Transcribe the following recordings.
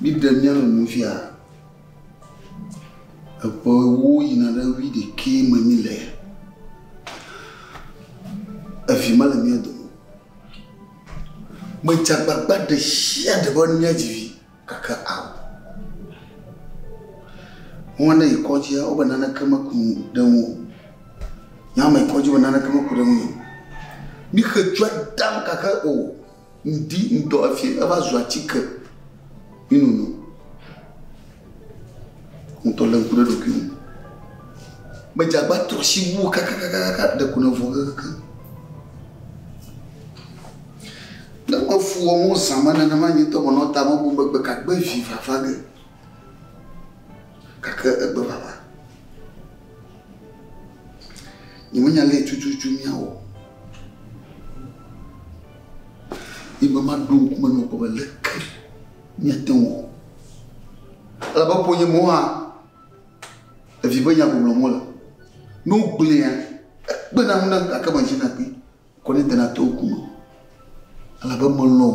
Míɖe mía nɔnɔewo nu fia, eƒe ewo yina ɖe wui ɖekɛ me mí le, evi mele mía dome o. Medze agbagba ɖe sia ɖe be mía dzi vi gake ao. Nua ne yi kɔdzia wo be naneke me ku ɖe ŋu o. Nua me yi kɔdzi wo be naneke me ku ɖe ŋu o. Mí xe dzo dam gake o. Ŋdi ŋdɔ efie eva zu atike mi nono. Ŋutɔ le ŋku ɖe ɖokui ŋu. Me dze agba trɔ si wu kakakakaka ɖe ko ne vɔ kekeke. Ne me fu wɔ mo zã me ne ne ma nye tɔ me nɔ ta me bo me gbe ka gbe vi vava ge. Kake egbe vava. Nye me nya le tututu mia wɔ. Ye be maɖo ŋku me nɔ kpɔ be leke miate ŋu wɔ. Elabe ƒonye mo hã evi be nya gblɔm mole. Ne wogblẽa, ekpena ŋu nam gake medzina kpi kɔ ne dena to ŋku me. Elabe melɔ̃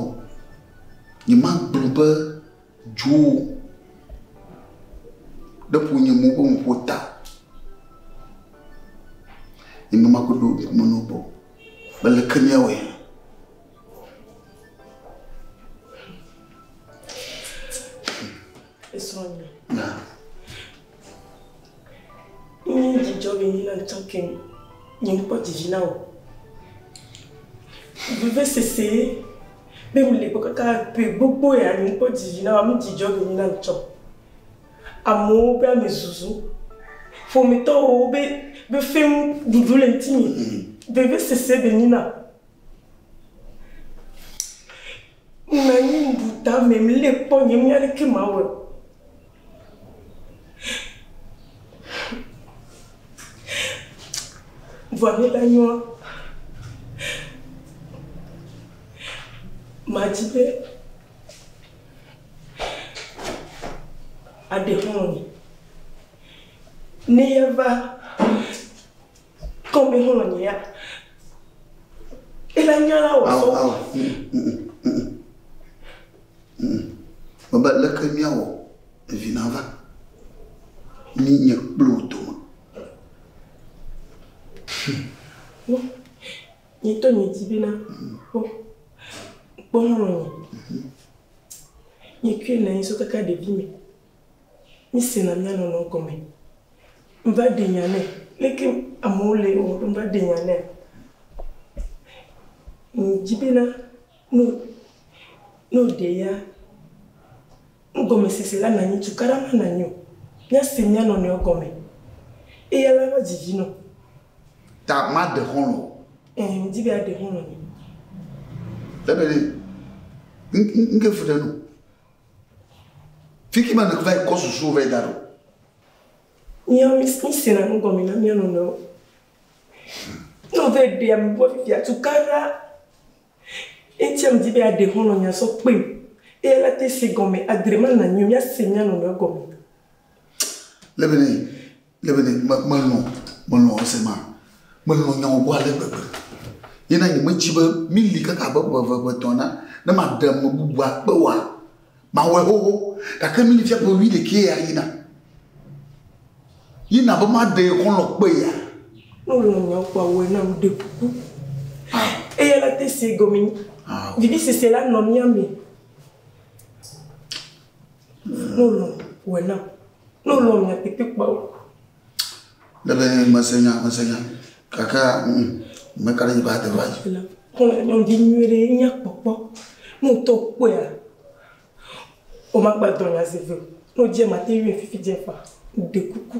nyemagblɔ be dzo ɖe ƒonye mo ƒe nuƒo ta. Ye be maɖo ŋku me nɔ kpɔ. Mele ke míawɔe. Esrɔ̃nye. Na. Nye dzidzɔ be nyina ŋutɔ ke nye ŋkpɔ dzidzi na wò. Veve sese be mele gbɔ kaka ƒe gbogbo ya nye ŋkpɔ dzidzi na wò, mi dzidzɔ be nyina ŋutɔ. Amewo be ame zuzu. Ƒometɔwo be be fẽŋ ɖuɖu le ŋtinye. Be be sese be nyi nam. Ŋnanyi ŋɖu tame ŋlé kpɔ nye ŋnya leke mawɔe o. Vɔa ne la nyɔa, madzi be. aɖexlɔ̃e. Ne yeva kɔme xlɔ̃nea, ela nya la wɔ sɔ. Mebe leke míawɔ evi nava mí nye kple wò dome. Nye to nye dzi bena kpɔ kpɔ nɔ nye. Nye kui na so kaka ɖevi me. Mi se na mia nɔ nɔ gɔme. Mva de nya ne leke amewo le o mva de nya ne. Nye dzi bena no no de ya. Ngɔme sese la na nyi tukara ma na nyo. Mia se mia nɔ nɔ gɔme. Eya la va dzi dzi nɔ. Ta maɖe xɔlɔ̃ o. Ẽ, medi be aɖe xɔlɔ̃ nye. Ebene, ŋke fu ɖe nu. Fiki ma nèva yi kɔ susuwo va yi da ɖo. Míawo mísena nu gɔme na mía nɔnɔewo. Ne wòva yi ɖea mebua fifia, tukaɖa. Eyi ŋuti medi be yeaɖe xɔlɔ̃ nye azɔ kpee eye ale ate si gɔme adre ema na mí míase mía nɔnɔewo gɔme. Le be ne, le be ne, me, melɔ̃, melɔ̃ ese ma. Melɔ̃ nya wògblɔ ale gbegbe. Ye na nye metsi be míli kaka abe ƒe eve, ƒe etɔ̃ ene ne maɖe ame bubua kpe woa. Mawɔe xoxo, gake nu li fia ƒe wuiɖekɛ ya yina. Yi na be maɖee xɔlɔ̃ kpe ya. Ne wò nyawo kpɔ awɔe nam, ɖe kuku. Eya la te se gɔme nyi. Vivisese la nɔ mía me. Ne wò lɔ̃, wɔe nam. Ne wò lɔ̃ mia tetekpɔawo. Lebe nye mese nya, mese nya. Kaka mm, me ka ɖe nyi ba te va dzi. Kɔlɔ nyɔnvi nyuie ɖe nya kpɔkpɔ. No to kpɔa. O ma gba dɔ nya se ve. No je ma te yue fifi je fa. De kuku.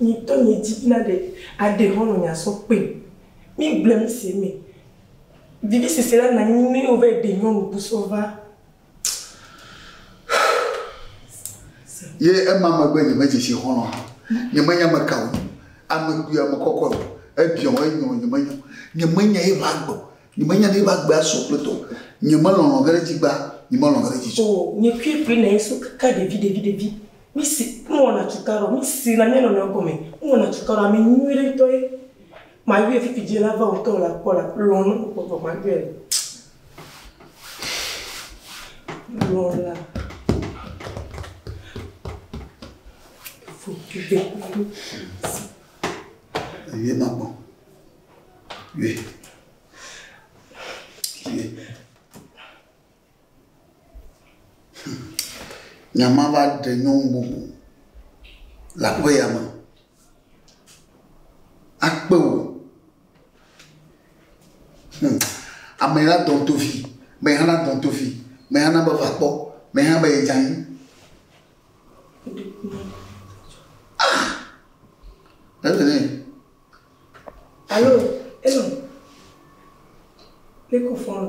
Nyi tɔ nyi dzi bina ɖe aɖe hɔn nɔ nya sɔ kpe. Mi gble mi se me. Vivi sese la na nyi nɛ wo vɛ ɖe nyɔnu bu sɔ va. Ye ema megbe nye me dzesi xɔn nɔ ha. Nye me nya me kawo nyo. Ame kpui ame kɔkɔ yo. Ebiɔ wo enyo nye me nyo. Nye me nya ye va agbe. Nye me nya ɖe ye va agbe asɔ kple tɔ. Nye me lɔlɔ ge ɖe dzi gba. Nye me lɔlɔ ge ɖe dzi tsɔ. Oh nye kue kue na ye so kaka ɖevi ɖevi ɖevi. Mísi, míwɔna cukaɖo, mísena mía nɔnɔewo gɔme, míwɔna cukaɖo, ame nyuiɖe ŋutɔ ye, mayɔɛ fifi dzi lava ŋutɔ o, lakpɔ la, lɔ̃ ne mekpɔ vɔ mayɔɛ le. Lɔ̃ la, Yɔɛ makpɔ, yɔɛ, yɔɛ. Nya ma va ɖe nyɔnu bubu le aƒe ya me. Akpe wò. Hm. Ame la dɔn tofi. Me hã na dɔn tofi. Me hã na be va kpɔ. Me hã be edza anyi. Ah! Evelyn. Alo, elo. Leko fɔlɔ.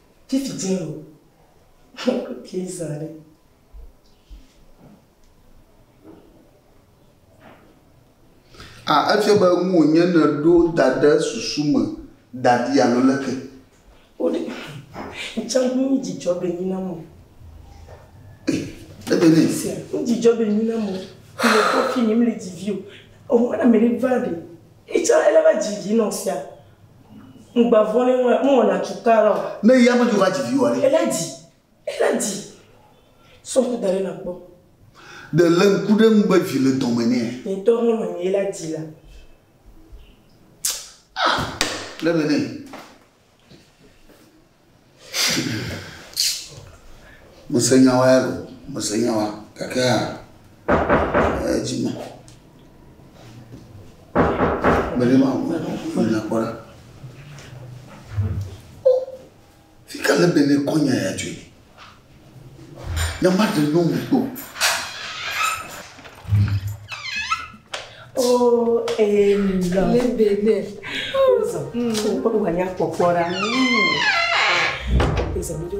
Fifth Jail okay zã ɖe. A efia be nu wònye nèɖo da ɖe susu me da ɖi alo leke? Wode ntsa nu dzidzɔ be nyi na mo. Ebe ne. Sia nu dzidzɔ be nyi na mo. Mele kɔfi mi mele dzi vi o. Ohun ana mele va ɖe. Yi tsã ele va dzi vi nɔ sia. Ŋgba vɔ̃ nɛ ŋ ŋwɔ na tsu ta ra o. Ne yi amɛdzo va dzi vi wa ɖe? Ele dzi. Ele dzi. Sɔ ŋku da ɖe na kpɔ. Ɖe le ŋku ɖe ŋu be vi le dɔme nɛ? Nye ŋtɔ hɔn nɔ ye la dzi la. Ah! Le be nɛ. Mese nya wa ya ɖo, mese nya wa gake hã edzi me. Meli ma ŋu nya kpɔ ɖa. Fi ka le bene kɔnya ya tsoe? Ne maɖe nyɔnu kpɔ. O ee lɔ. Le bene. Ozɔ. Kpɔ kpɔ wanya kpɔkpɔ ra. Ozɔ mi do.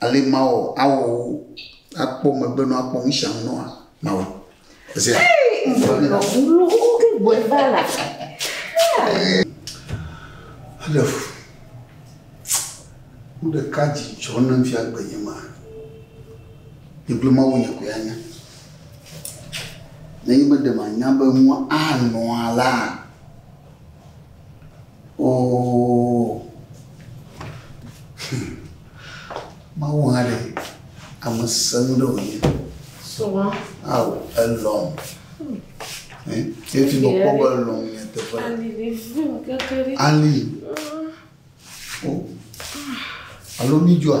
ale ma wɔ awɔ wo akpɔ megbe nɔ akpɔ nu sia nu nɔa ma wɔ zi ale fu nu ɖeka dzi tsɔ ne fia gbe nye ma gbegblẽ ma wo nye ko ya nya ne yi be ɖe ma nya be nua anɔ la Oo, hum, Mawu hã ɖe ame senu ɖe wònye. Sɔa. Awo, elɔm. Efi mekpɔ be elɔm nye teƒe. Ali. O. Alo mi dzɔa?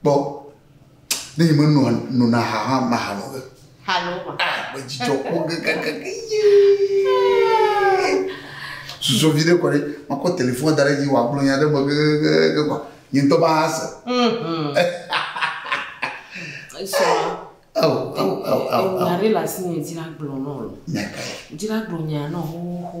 kpɔ ne yi menɔ nona ha hã ma ha nɔ ge halo ma ah me dzidzɔ kpɔ gɛgɛgɛgɛ ye susɔ vi ɖe kɔ ɖe makɔ telefon da ɖe dzi wòagblɔ nya ɖe me gɛgɛgɛgɛ kɔ nye ŋutɔ ma ha se nya ɖe le asi nye dzra gblɔ nɔ dzra gblɔ nya nɔ xoxo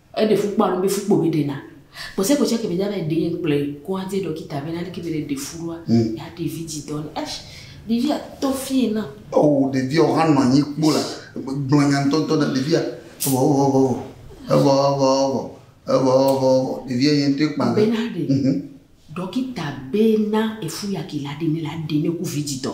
Eɖe fu kpɔa nu be fu kpɔ be na kpɔsɛ kpɔsɛ ke be dza va ɖe yɛn kplɔe kɔadze ɖɔkita be na leke be le ɖe fu ɖoa ya ɖe vi dzi dɔ ne ash ɖevia tɔ fie na. Oo ɖevia o hã nɔ anyi kpo la gblɔ nya ŋtɔ ŋtɔ na ɖevia vɔ vɔ vɔ vɔ evɔ vɔ vɔ evɔ vɔ vɔ ɖevia yɛn ŋtɔe kpa be na ɖe ɖɔkita be na efu yaki la ɖe ne la ɖe ne ku vi dzi dɔ.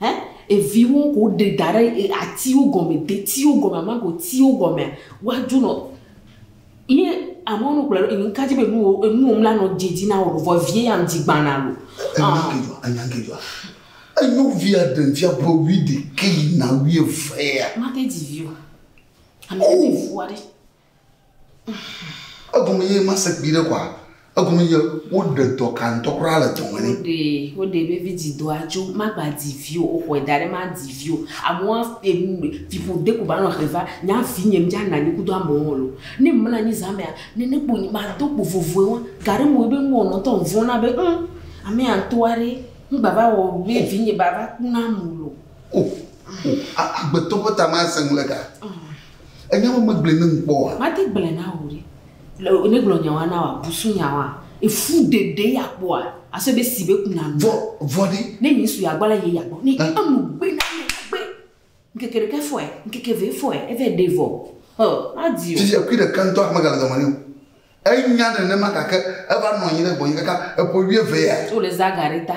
Ẽ? Eviwo ke woɖe da ɖe e, atiwo gɔme, detiwo gɔme, amagotiwo gɔmea, woadzo nɔ. Ye amewo nɔ gblɔe ɖo, enu ka dzi be enuwo, enuwo mla nɔ dze dzi na wo ɖo? Vɔ evie ya ŋdi gbana lo. Enya ŋke dzɔa? Enya ŋke dzɔa? Enyo via ɖem fia ƒe wuiɖekɛ yina wuievea. Mate dzi vi o. Ame ɖe te ŋu fu aɖe. Egome ye ma se kpi ɖe kɔa? Egome ye wo ɖe dɔ ka ŋutɔ kura le dɔ me ne? Wo ɖe, wo ɖe be vi dzi dɔa tso, ma gba dzi vio, o xɔe da ɖe ma dzi vio. Amewo a e nu fi ƒo de ko ba nɔ xe va, nya vi nye mi dza na nyi kudo amewo hɔn lo. Ne mla nyi za mea, ne ne kpo nyi ma do kpo vovoe wa. Gaɖe mo ye be ŋgɔ nɔ ŋutɔ ŋvɔn na be ŋ, ame ya ŋutɔ wa ɖe, ŋ gba va wɔ be vi nye ba va ku na mo lo. O, o, a, a gbetɔ be ta ma se ŋle ga. Enya ma megblɔe ne ŋkpɔ oa? Mate gblɔe na wò ɖe. Le ne gblɔ nya wa na wòa, busu nya wa, efu ɖe ɖe ya kpɔa, asɔ be si be kuna nu. Vɔ, vɔ ɖe. Ne nye su ya gbɔ la, ye ya gbɔ. Ne enu gbe na me gbe. Ŋkeke ɖeka fɔe, ŋkeke ve fɔe, eve ɖe vɔ. Hɔ, madi o. Fifi ekui ɖeka ŋtɔa megale zɔme nɛ o. Enya nenema gake eva nɔ anyi ɖe gbɔnye kaka eƒe wuieve ya. Wole zã ga ɖe ta.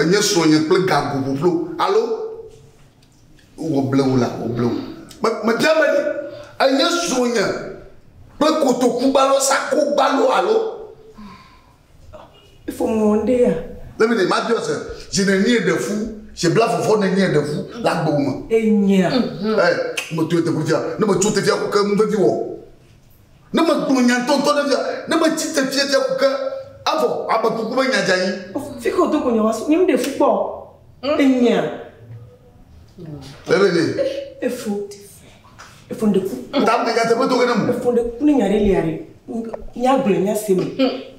Enye srɔ̃nye kple gago ƒuƒlo alo wòble wò la, wòble wò. Me, mebia be ɖe enye srɔ̃nye kple kotoku gbalo, sako gbalo alo. Fɔmɔ ɖe ya. Let me think, mabia se, zi nenie ɖe fu, zi bla fɔfɔ nenie ɖe fu le agbe me. Enyea. Ɛ, metɔe teƒe fia, ne metso tefia ko ke nu vevi wɔ. Ne megblɔ nya ŋutɔŋutɔ ɖe fia, ne metsi te fia fia ku ke, evɔ ame kuku be nya dzanyi. Fika wòdo go nya wasu, nye ŋɖe fu kpɔ enyia. Bebe ne. Efo, efo ŋɖe ku. Ta me nya teƒe do ge ne mu. Efo ŋɖe ku ne nya ɖe lia ɖe, nya gblɔ nya se me.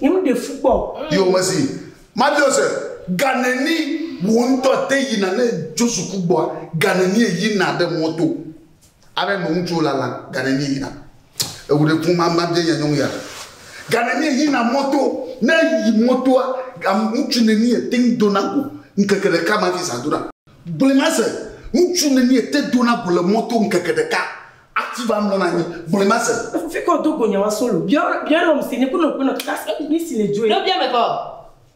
Nye ŋɖe fu kpɔ. Yo mesi, mabiɔ se, ganeni wò ŋutɔ te yina ne Josu ku gbɔa, ganeni yina ɖe mɔto. Are no ŋutsu lala gane nye yina ewu ɖe kun mama bia nya nyɔŋ ya gane nye yina moto ne yi motoa gam ŋutsu ne ni ete ŋ dona go ŋkeke ɖeka ma fi sa dona gble ma se ŋutsu ne ni ete dona go le moto ŋkeke ɖeka ati va mlɔ na nyi gble ma se. Efufi kɔ do go nya wa solo bia bia lɔ msi ne ko nɔ ko nɔ kika se ŋsi ne dzoe. Ɖo bia me kɔ.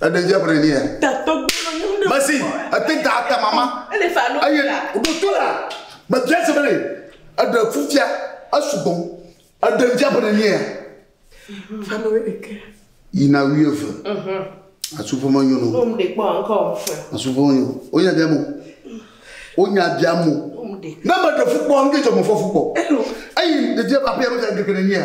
Ẹɖe dze ƒo ɖe ni ya. Mesi ete da ata mama. Eye ɖoto la gbefia se bene eɖe fufia esugbɔ. Ẹɖe dze ƒo ɖe ni ya. Yina wuieve. Asufo menyo no. Asufo menyo. Wonya bia mo. Wonya bia mo. Ne meɖe fukpɔ, ŋdedzɔ mefɔ fukpɔ. Eyi ɖeɖe aƒea megadekele ni ya.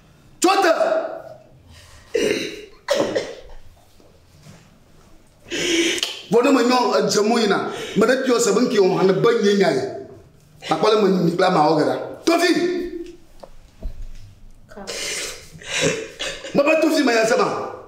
Tso te! Vɔ ne menyɔ edze mo yina, me ɖe kiyɔ se be ŋkiyɔ hã ne be nye nya ye. Akpɔ le menyi mi kple amawɔ gera. Tofi! Mebe tofi me ya se ma.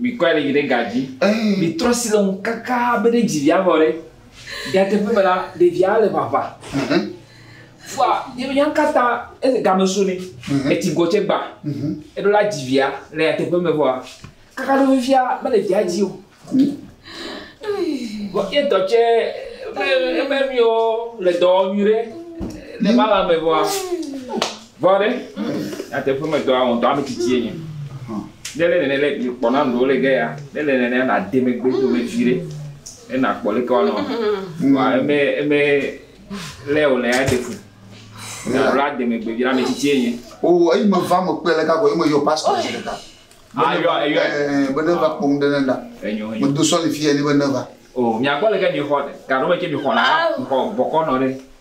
Mikɔe ɖe yi ɖe ga dzi. Mitrɔ asi le ŋu kaka be ɖe dzi via nɔ ɖe. Nyateƒe me la, ɖevia le ʋaʋã. Fua yebe nya kata ele game so ne. Etsi gɔ tse gba. Eɖo la dzi via le nyateƒe me vɔa, kaka ɖo fifia mele via dzi o. Vɔ ye tɔ tse be ebe miwo le dɔ wɔ nyuie ɖe le ma la me vɔa. Vɔ ɖe, nyateƒe me dɔa wɔm dɔa metsitsiye nye. Ne le nene le kpɔ na ndo le ge ya, ne le nene na de me gbe do me vi ɖe. Ne na kpɔ le kwa no. Wa eme eme le o le ya de fu. Na la de me gbe vi la metsitsiye nye. O ayi me va me kpe le ka ko ayi me yo pastor se le ka. Ah yo yo. Eh bene va kpɔ ŋde ne da. Enyo enyo. Me do sɔli fi ya ni bene va. O mi akpɔ le ke mi xɔ ka no me ke mi xɔ na. Xɔ bɔkɔ nɔ ɖe.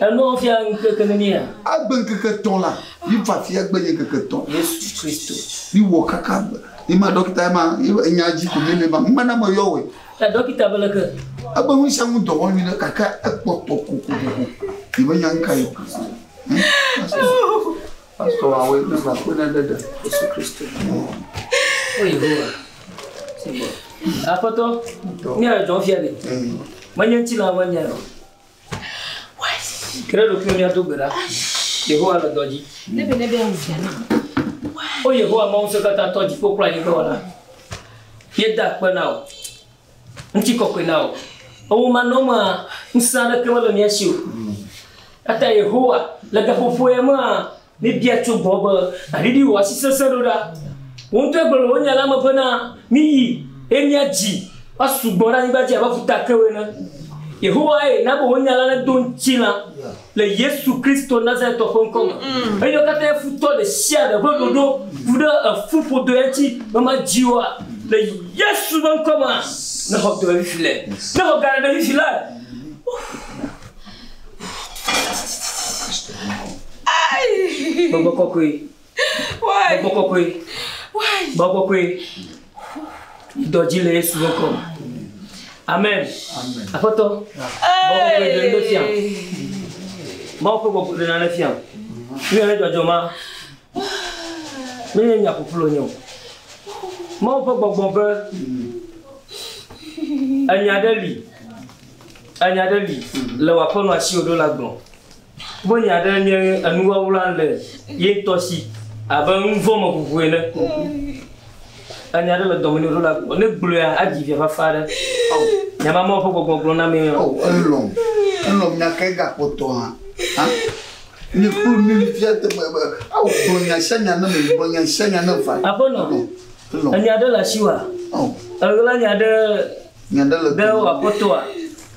Eno fia ŋkeke ne mía. Agbe ŋkeke tɔ la, mi fa fia gbe nye ŋkeke tɔ. Yesu Kristo. Mi wɔ kaka gbe. Mi ma dɔkita ma, nya dzi ko mi le ma. Mena me yɔ wɛ. Ya dɔkita be leke. Ebe nu sia nu dɔ wɔ nyuie kaka ekpɔtɔ kokoko. Mi me nya ŋka yɔ. Pastor wa woe na va kpena ɖe ɖe Yesu Kristo. O Yehowa. Aƒetɔ, mía le dzɔn fia ɖe. Menye ŋuti la ƒe nya o. Kele ɖokuiwo mía do gbe ɖa. Yehowa le dɔ dzi. Ne be ne be awu fia na. O Yehowa Mawu se katã tɔ dziƒo kple anyigba wɔla. Yeda kpe na o. Ŋutikɔkɔe na wò. Ewumanɔmea, ŋusẽ aɖeke mele mía si o. Eya ta Yehowa, le gaƒoƒo ya mea, míebia tso gbɔwò be nàɖiɖi wò asi sesẽ ɖo ɖa. Wò ŋutɔ egblɔ le wò Nya la me bena, Miyi, eye miadzi woasu gbɔ ɖe anyigba dzi abe ƒuta kewo ene. Yehowae na be wò Nya la nedo ŋutilã. le Yesu Kristo Nazaretɔ ƒe ŋkɔ me. Eyɔ katã ye futɔ ɖe sia ɖe ƒe ɖoɖo ku ɖe efu ƒodo ya ŋuti be madzi woa. Le Yesu ƒe ŋkɔ me, ne xɔ dɔ ɖe fifi le, ne xɔ galã ɖe fifi le. Gbɔgbɔ kɔkɔe. Gbɔgbɔ kɔkɔe. Gbɔgbɔ kɔkɔe. Dɔ dzi le Yesu ƒe ŋkɔ me. Amen. Aƒetɔ. Gbɔgbɔ kɔkɔe ɖe nane fia. Mawu ƒe gbɔgbɔ ɖe nane fia. Nu yɛn dzɔdzɔ ma. Menye nya ƒuƒlu nye o. Mawu ƒe gbɔgbɔ be enya ɖe li. Enya ɖe li le wò aƒenɔ asiwò ɖo la gbɔ. Be ya ɖe nye enuwawla le ye ŋutɔ si abe nuvɔ̃ me ʋuʋu ene. Enya aɖe le dɔme nɛ wòɖo le agbɔ. Ne gblɔea, adzi vi fafa aɖe. Nya ma Mawu ƒe gbɔgbɔ gblɔ na mee. O, elɔ̃m. Elɔ̃m nya kae gakpɔtɔ hã? Hã? Nye kplu nu yi fia te be, be, ao, gblɔ nya sia nya na mem, gblɔ nya sia nya nam fa. Aƒenɔ, Elɔ̃m. Elɔ̃m. ènya ɖe le asiwòa? Ao. Èɣla nya ɖe Nya ɖe le ɖe dome wò na mí. aƒetɔa?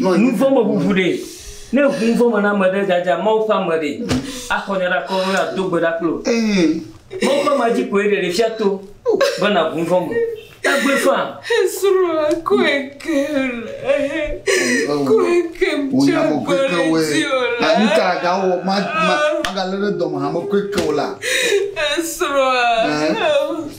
Nuvɔ̃ me ʋuʋu ɖe? Ne ŋu nuvɔ̃ me na ame ɖe dzadza Mawu ƒe ame ɖe, axɔ nya ɖe akɔ alo ado gbe ɖa kpli o. Mawu ƒe amea dzi koe ɖeɖe fia to be nàʋu nuvɔ̃ me. Tagbe faa. Esrɔ̃a kɔe kem le, kɔe kem tso gbɔli dzi o la. Nu ka agawɔ magalé ɖe dɔme hame kɔe ke o la? Esrɔ̃a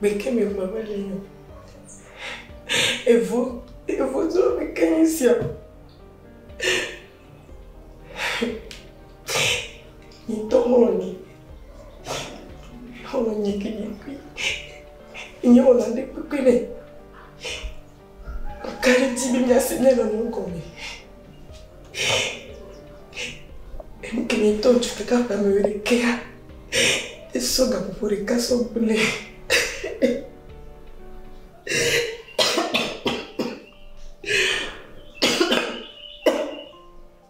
Meke me vɔ me le yɔ. Evo, evo zo me ke ni sio. Ni to mo ni. Ho ni ki ni ki. Ni o la de pe pe le. Makaɖiti be míase míanɔ nu gɔme. Enu ke míetɔ ŋutsu ɖeka ƒe ame ɖekea, esɔ gaƒoƒo ɖeka sɔ gblẽ.